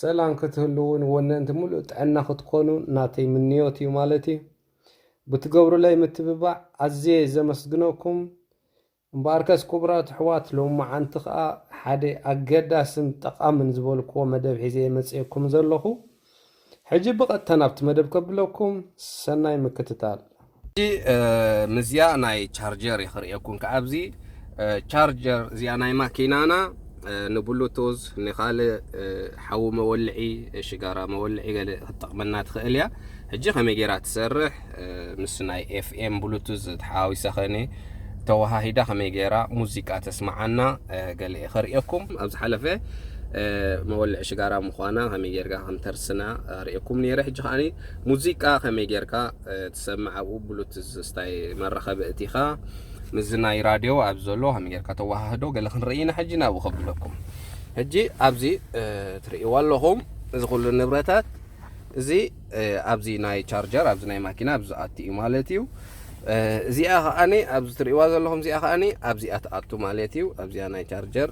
ሰላም ክትህልውን ወነንቲ ምሉእ ጥዕና ክትኮኑ ናተይ ምንዮት እዩ ማለት እዩ። ብትገብሩለይ ምትብባዕ ኣዝየ ዘመስግነኩም። እምበኣርከስ ክቡራት ኣሕዋት ሎሚ መዓንቲ ከኣ ሓደ ኣገዳስን ጠቓምን ዝበልክዎ መደብ ሒዘ እየ መጺኤኩም ዘለኹ። ሕጂ ብቐጥታ ናብቲ መደብ ከብለኩም ሰናይ ምክትታል። ሕጂ ምስዚኣ ናይ ቻርጀር እየ ክርእየኩም ክኣ ኣብዚ ቻርጀር እዚኣ ናይ ማኪናና ንብሉቱዝ ንካልእ ሓዊ መወልዒ ሽጋራ መወልዒ ገለ ክትጠቕመና ትኽእል እያ። ሕጂ ከመይ ጌራ ትሰርሕ ምስ ናይ ኤፍኤም ብሉቱዝ ተሓዋዊሰ ከኒ ተወሃሂዳ ከመይ ገይራ ሙዚቃ ተስማዓና ገለ ከርእየኩም ኣብ ዝሓለፈ መወልዒ ሽጋራ ምዃና ከመይ ጌርካ ከም ተርስና ርእየኩም ነይረ ሕጂ ከዓኒ ሙዚቃ ከመይ ጌርካ ትሰምዕ ኣብኡ ብሉቱዝ ስታይ መራኸቢ እቲኻ ምስዚ ናይ ራድዮ ኣብ ዘሎ ከመይ ጌርካ ተወሃህዶ ገለ ክንርኢ ኢና ሕጂ ናብኡ ከብለኩም ሕጂ ኣብዚ ትርእይዎ ኣለኹም እዚ ኩሉ ንብረታት እዚ ኣብዚ ናይ ቻርጀር ኣብዚ ናይ ማኪና ኣብዚ ዝኣቲ እዩ ማለት እዩ እዚኣ ከዓኒ ኣብዚ ትርእዋ ዘለኹም እዚኣ ከዓኒ ኣብዚኣ ትኣቱ ማለት እዩ ኣብዚኣ ናይ ቻርጀር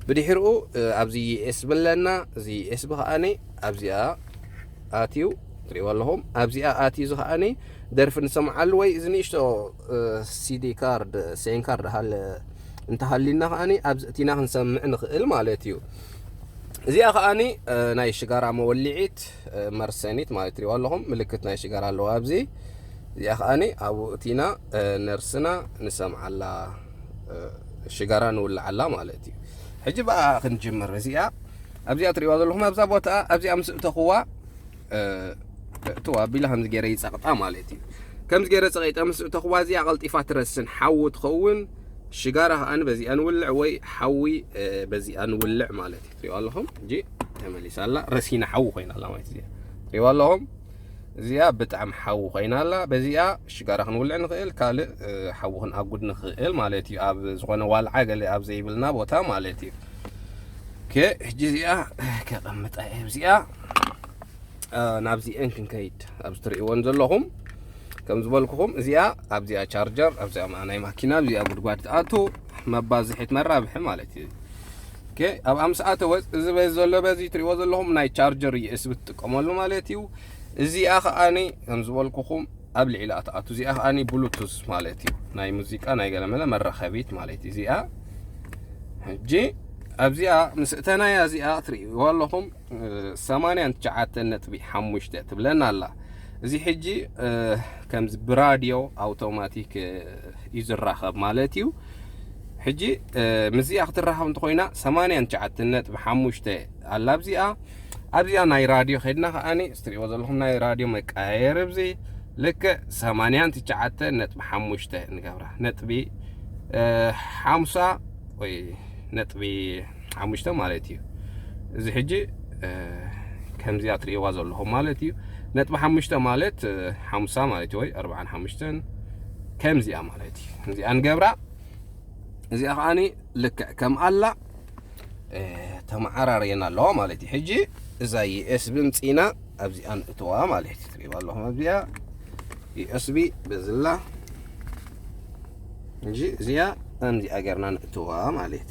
ብድሕርኡ ኣብዚ ዩኤስ ብለና እዚ ዩኤስ ብከዓኒ ኣብዚኣ ኣትዩ ትርእዎ ኣለኹም ኣብዚኣ ኣትዩ እዚ ከዓኒ ደርፊ ንሰምዓሉ ወይ እዚ ንእሽቶ ሲዲ ካርድ ሴን ካርድ ሃለ እንተሃሊና ከዓኒ ኣብዚ እቲና ክንሰምዕ ንኽእል ማለት እዩ እዚኣ ከዓኒ ናይ ሽጋራ መወሊዒት መርሰኒት ማለት ትሪእዋ ኣለኹም ምልክት ናይ ሽጋራ ኣለዋ ኣብዚ እዚኣ ከዓኒ ኣብኡ እቲና ነርስና ንሰምዓላ ሽጋራ ንውልዓላ ማለት እዩ ሕጂ ብኣ ክንጅምር እዚኣ ኣብዚኣ ትሪእዋ ዘለኹም ኣብዛ ቦታ ኣብዚኣ ምስ እተኹዋ እትዋ ኣቢላ ከምዚ ገይረ ይፀቕጣ ማለት እዩ ከምዚ ገይረ ፀቂጠ ምስ እተኹዋ እዚኣ ቀልጢፋ ትረስን ሓዊ ትኸውን ሽጋራ ከዓኒ በዚኣ ንውልዕ ወይ ሓዊ በዚኣ ንውልዕ ማለት እዩ ትሪእዋ ኣለኹም እንጂ ተመሊሳ ኣላ ረሲና ሓዊ ኮይና ኣላ ማለት እዚኣ ትሪእዋ ኣለኹም እዚኣ ብጣዕሚ ሓዊ ኮይና ኣላ በዚኣ ሽጋራ ክንውልዕ ንኽእል ካልእ ሓዊ ክንኣጉድ ንኽእል ማለት እዩ ኣብ ዝኾነ ዋልዓ ገለ ኣብ ዘይብልና ቦታ ማለት እዩ ከ ሕጂ እዚኣ ከቐምጣ እየ እዚኣ ናብዚአን ክንከይድ ኣብ ዝትርእይዎን ዘለኹም ከም ዝበልኩኹም እዚኣ ኣብዚኣ ቻርጀር ኣብዚኣ ናይ ማኪና ኣብዚኣ ጉድጓድ ትኣቱ መባዝሒት መራብሒ ማለት እዩ ኦኬ ኣብ ኣምስ ኣተወ እዚ በዚ ዘሎ በዚ ትሪእዎ ዘለኹም ናይ ቻርጀር ዩኤስቢ ትጥቀመሉ ማለት እዩ እዚኣ ከዓኒ ከም ዝበልኩኹም ኣብ ልዕሊ ኣትኣቱ እዚኣ ከዓኒ ብሉቱዝ ማለት እዩ ናይ ሙዚቃ ናይ ገለመለ መራኸቢት ማለት እዩ እዚኣ ሕጂ ኣብዚኣ ምስ እተናያ እዚኣ ትርእይዎ ኣለኹም ሰማንያን ትሽዓተን ነጥቢ ሓሙሽተ ትብለና ኣላ እዚ ሕጂ ከምዚ ብራድዮ ኣውቶማቲክ እዩ ዝራኸብ ማለት እዩ ሕጂ ምስዚኣ ክትራኸብ እንተኮይና ሰማንያን ትሽዓተን ነጥቢ ሓሙሽተ ኣላ ኣብዚኣ ኣብዚኣ ናይ ራድዮ ከድና ከዓኒ ስትሪእዎ ዘለኹም ናይ ራድዮ መቀያየር ብዚ ልክዕ ሰማንያን ትሽዓተን ነጥቢ ሓሙሽተ ንገብራ ነጥቢ ሓምሳ ወይ ነጥቢ ሓሙሽተ ማለት እዩ እዚ ሕጂ ከምዚኣ ትርእይዋ ዘለኹም ማለት እዩ ነጥቢ ሓሙሽተ ማለት ሓምሳ ማለት እዩ ወይ ኣርብዓን ሓሙሽተን ከምዚኣ ማለት እዩ እዚኣ ንገብራ እዚኣ ከዓኒ ልክዕ ከም ኣላ ተመዓራርየና ኣለዋ ማለት እዩ ሕጂ እዛ ዩኤስቢ ምፅኢና ኣብዚኣ ንእትዋ ማለት እዩ ትርእይዋ ኣለኹም ኣብዚኣ ዩኤስቢ በዝላ ሕጂ እዚኣ ከምዚኣ ጌርና ንእትዋ ማለት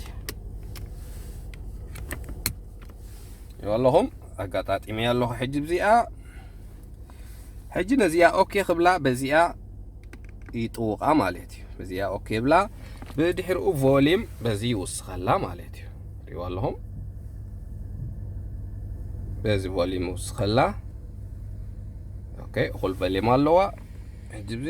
እዩ ኣለኹም ኣጋጣጢመያ ኣለኹ ሕጂ ብዚኣ ሕጂ ነዚኣ ኦኬ ክብላ በዚኣ ይጥውቃ ማለት እዩ በዚኣ ኦኬ ብላ ብድሕሪኡ ቮሊም በዚ ይውስኸላ ማለት እዩ ሪዋ ኣለኹም በዚ ቮሊም ይውስኸላ ኦኬ እኹል ቮሊም ኣለዋ ሕጂ ብዚ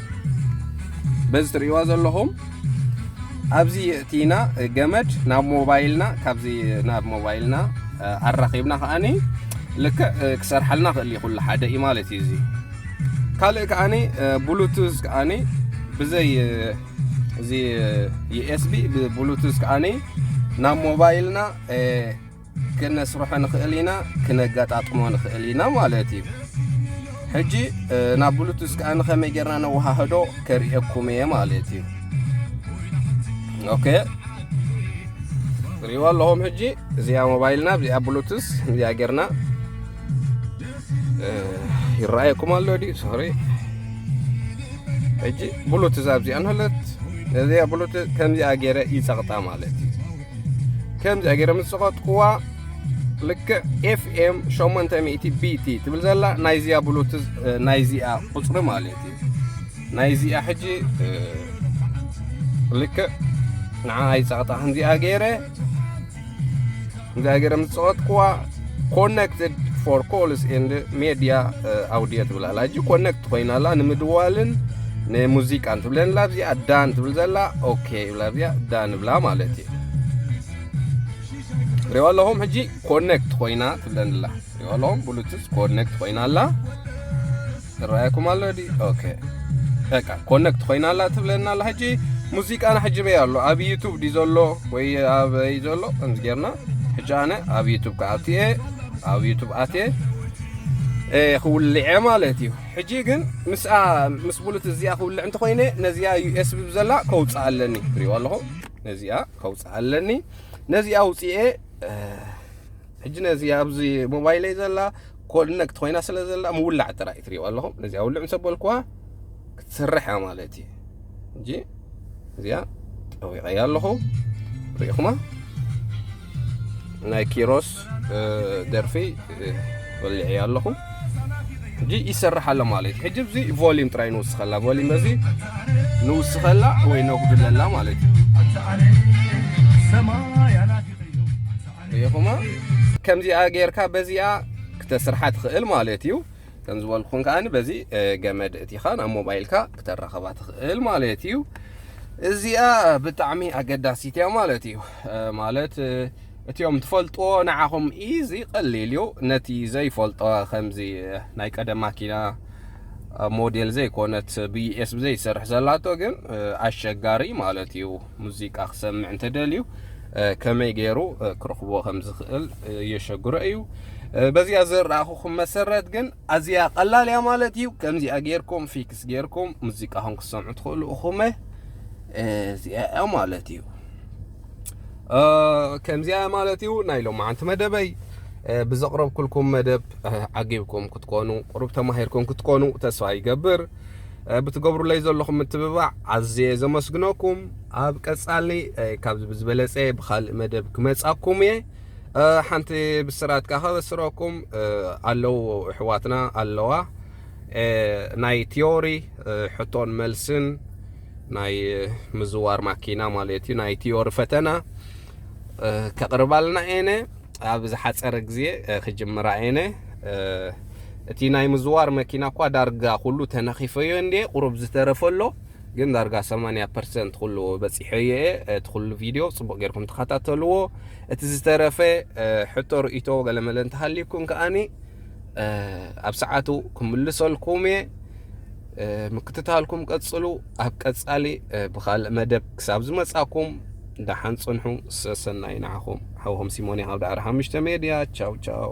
በዚ ትርእይዋ ዘለኹም ኣብዚ የእቲና ገመድ ናብ ሞባይልና ካብዚ ናብ ሞባይልና ኣራኺብና ከዓኒ ልክዕ ክሰርሓልና ክእል ኩሉ ሓደ እዩ ማለት እዩ እዚ ካልእ ከዓኒ ብሉቱዝ ከዓኒ ብዘይ እዚ ዩኤስቢ ብብሉቱዝ ከዓኒ ናብ ሞባይልና ክነስርሖ ንኽእል ኢና ክነገጣጥሞ ንኽእል ኢና ማለት እዩ ሕጂ ናብ ብሉቱስ ከኣ ንኸመይ ጌርና ነወሃህዶ ከርእየኩም እየ ማለት እዩ ኦኬ ሪዋ ኣለኹም ሕጂ እዚኣ ሞባይልና እዚኣ ብሉቱስ እዚኣ ጌርና ይረኣየኩም ኣሎ ድዩ ሶሪ ሕጂ ብሉቱዝ ኣብዚኣ ንህለት እዚኣ ብሉቱዝ ከምዚኣ ገይረ ይፀቕጣ ማለት እዩ ከምዚኣ ገይረ ምስ ዝኸጥኩዋ ልክዕ ኤፍኤም 800 ቢቲ ትብል ዘላ ናይዚኣ ብሉት ናይዚኣ ቁፅሪ ማለት እዩ ናይዚኣ ሕጂ ልክዕ ንዓ ኣይፀቕጣ ከምዚኣ ገይረ ከምዚኣ ገይረ ምስ ዝኸጥኩዋ ኮነክትድ ፎር ኮልስ ኤንድ ሜድያ ኣውድዮ ትብል ኣላ ሕጂ ኮነክት ኮይና ኣላ ንምድዋልን ንሙዚቃን ትብለን ኣላ ኣብዚኣ ዳን ትብል ዘላ ኦኬ ይብላ ኣብዚኣ ዳን ብላ ማለት እዩ ሪኦ ኣለኹም ሕጂ ኮነክት ኮይና ትብለን ኣላ ሪኦ ኣለኹም ብሉቱዝ ኮነክት ኮይና ኣላ ይረኣየኩም ኣሎ ዲ ኦኬ በቃ ኮነክት ኮይና ኣላ ትብለና ኣላ ሕጂ ሙዚቃና ሕጂ በይ ኣሎ ኣብ ዩቱብ ዲ ዘሎ ወይ ኣበይ ዘሎ ከምዚ ጌርና ሕጂ ኣነ ኣብ ዩቱብ ክኣቲ እየ ኣብ ዩቱብ ኣትየ ክውልዐ ማለት እዩ ሕጂ ግን ምስኣ ምስ ብሉት እዚኣ ክውልዕ እንተኮይነ ነዚኣ ዩኤስቢ ብዘላ ከውፅእ ኣለኒ ትሪእዎ ኣለኹ ነዚኣ ከውፅእ ኣለኒ ነዚኣ ውፅኤ ሕጂ ነዚ ኣብዚ ሞባይለይ ዘላ ኮድነክት ኮይና ስለ ዘላ ምውላዕ ጥራይ ትሪእዋ ኣለኹም ነዚኣ ውልዕ ምስ ኣበልኩዋ ክትሰርሕ እያ ማለት እዩ እንጂ እዚኣ ጠዊቐያ ኣለኹ ሪኢኹማ ናይ ኪሮስ ደርፊ ወሊዐያ ኣለኹ ሕጂ ይሰርሕ ኣሎ ማለት እዩ ሕጂ እዚ ቮሊም ጥራይ ንውስኸላ ቮሊም በዚ ንውስኸላ ወይ ነጉድለላ ማለት እዩ ሪኢኹማ ከምዚኣ ጌርካ በዚኣ ክተስርሓ ትኽእል ማለት እዩ ከም ዝበልኩን ከዓኒ በዚ ገመድ እቲኻ ናብ ሞባይልካ ክተራኸባ ትኽእል ማለት እዩ እዚኣ ብጣዕሚ ኣገዳሲት እያ ማለት እዩ ማለት እቲኦም ትፈልጥዎ ንዓኹም ኢዚ ቀሊል እዩ ነቲ ዘይፈልጦ ከምዚ ናይ ቀደም ማኪና ሞዴል ዘይኮነት ብዩኤስ ብዘይሰርሕ ዘላቶ ግን ኣሸጋሪ ማለት እዩ ሙዚቃ ክሰምዕ እንተደልዩ ከመይ ገይሩ ክረኽቦ ከም ዝኽእል የሸግሮ እዩ በዚኣ ዝረኣኹኹም መሰረት ግን ኣዝያ ቀላል እያ ማለት እዩ ከምዚኣ ጌርኩም ፊክስ ጌርኩም ሙዚቃኹም ክሰምዑ ትኽእሉ እኹመ እዚኣ እያ ማለት እዩ ከምዚኣ ማለት እዩ ናይ ሎማዓንቲ መደበይ ብዘቕረብኩልኩም መደብ ዓጊብኩም ክትኮኑ ቁሩብ ተማሂርኩም ክትኮኑ ተስፋ ይገብር ብትገብሩለይ ዘለኹም ምትብባዕ ኣዝየ ዘመስግነኩም ኣብ ቀጻሊ ካብዚ ብዝበለጸ ብካልእ መደብ ክመጻኩም እየ ሓንቲ ብስራት ከ ከበስረኩም ኣለዉ እሕዋትና ኣለዋ ናይ ቲዮሪ ሕቶን መልስን ናይ ምዝዋር ማኪና ማለት እዩ ናይ ቲዮሪ ፈተና ከቕርባልና እየነ ኣብ ዝሓፀረ ግዜ ክጅምራ እየነ እቲ ናይ ምዝዋር መኪና እኳ ዳርጋ ኩሉ ተነኺፈዮ እንድየ ቁሩብ ዝተረፈሎ ግን ዳርጋ 80 ፐርሰንት ኩሉ በፂሐዮ እየ እቲ ኩሉ ቪድዮ ፅቡቅ ጌርኩም ተኸታተልዎ እቲ ዝተረፈ ሕቶ ርእቶ ገለመለ እንተሃልዩኩም ከዓኒ ኣብ ሰዓቱ ክምልሰልኩም እየ ምክትታልኩም ቀጽሉ ኣብ ቀጻሊ ብካልእ መደብ ክሳብ ዝመጻኩም ደሓን ጽንሑ ሰሰናይ ንዓኹም ሓውኹም ሲሞን ካብ ዳዕሮ ሓሙሽተ ሜድያ ቻው ቻው